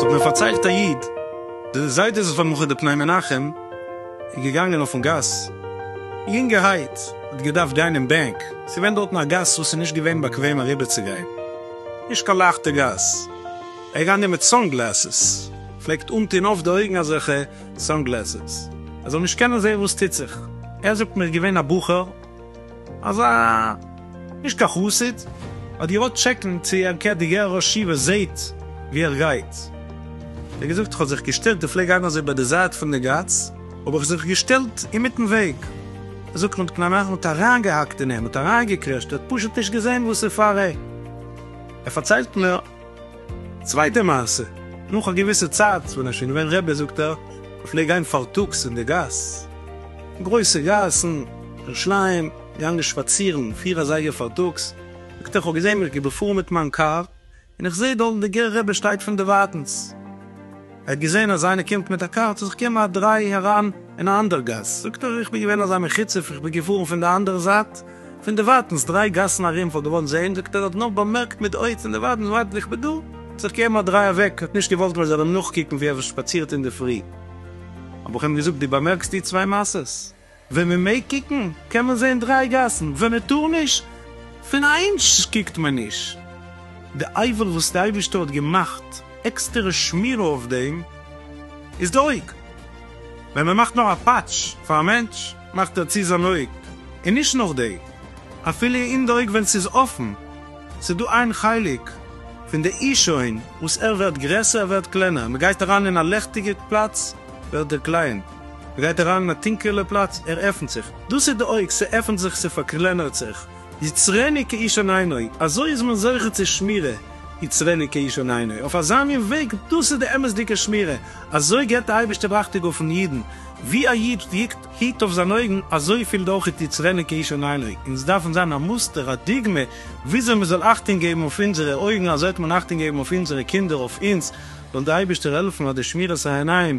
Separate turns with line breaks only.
ס'האט מיר פארציילט א איד, די זיידע איז פאר מלחמה די פני מנחם איז געגאנגען אויפן גאס, יונגערהייט האט געדארפט גיין אין בענק, ס'איז געווען דארטן א גאס וואס איז נישט געווען באקוועם אריבערצוגיין, נישט קיין לייכטע גאס, ער איז געגאנגען מיט סאן גלעסעס, פלעגט אנטון אויף די אויגן אזעלכע סאנגלעסעס ער זאל נישט קענען זעהן וואס טוט זיך. ער זאגט מיר געווען א בחור אזא נישט קיין חסיד האט געוואלט טשעקן צו ער קער די גער ראש ישיבה זעהט ווי ער גייט האט ער געזאגט כ'האב זיך געשטעלט איך פלעג גיין אזוי ביי די זייט פון די גאס האב איך זיך געשטעלט אינמיטן וועג ער זאגט מ'האט קנאנאכט מ'האט אריינגעהאקט אין אים מ'האט אריינגעקרעשט ער האט פשוט נישט געזעהן וואס איז פאר אים ער פארציילט מיר. צווייטע מעשה, נאך א געוויסע צייט ווען ער איז שוין געווען רבי זאגט ער, איך פלעג גיין פארטאגס אין די גאס, גרויסע גאסן, ירושלים, געגאנגען שפאצירן פיר אזייגער פארטאגס, זאגט ער איך האב געזען ווי איך גיי בעפאר מיט מיין קאר, און איך זעה דארט די גר א רבי שטייט פון דערווייטענס, ער האט געזען אז איינער קומט מיט א קאר, האט ער זיך געגעבן א דריי אריין אין א אנדער גאס, זאגט ער, איך בין געווען אזא מחוצף, איך בין געפארן פון די אנדערע זייט, פון דערווייטענס, דריי גאסן ארום, פאר געוואלט זען, זאגט ער, האט נאר באמערקט מיט אויג פון דערווייטענס, ווייטער ווי איך בין דא, האט זיך געגעבן א דריי אוועק, האט נישט געוואלט מען זאל אים נאכקוקן ווי ער שפאצירט אינדערפרי. האב איך אים געזאגט, דו באמערקסט די צוויי מעשות? ווען מען מעג קוקן קען מען זען דריי גאסן, ווען מען טאר נישט פון א אינטש קוקט מען נישט. די אייוועלט וואס די אייבערשטער האט געמאכט עקסטערע שמירה אויף דעם איז די אויג. ווען מען מאכט נאר א פאטש פאר א מענטש מאכט ער צו זיין אויג און נישט נאך דעם אפילו אין די אויג ווען ס'איז אפן. ס'איז דא איין חלק פון די אי שוין וואס ער ווערט גרעסער ער ווערט קלענער, מען גייט אריין אין א לעכטיגע פלאץ ווערט ער קליין. גייט אריין אין א טונקעלע פלאץ, ער עפנט זיך, דאס איז די אויג, ס'עפנט זיך, ס'פארקלענערט זיך, יצרני כאיש אין עינו, אזוי איז מען זוכה צו שמירה, יצרני כאיש אין עינו, אויף אזא מין וועג, דאס איז די אמת'דיגע שמירה, אזוי גיבט די אייבערשטער ראכטיג אויפן אידן, ווי א איד היט אויף זיינע אויגן, אזוי פילט אויך איז יצרני כאיש אין עינו, אונז דארפן זיין א מוסטער, א דוגמא, וויאזוי מען זאל אכטונג געבן אויף אונזערע אויגן, אזוי וועט מען אכטונג געבן אויף אונזערע קינדער, אויף אונז, זאל די אייבערשטער העלפן אז די שמירת העיניים,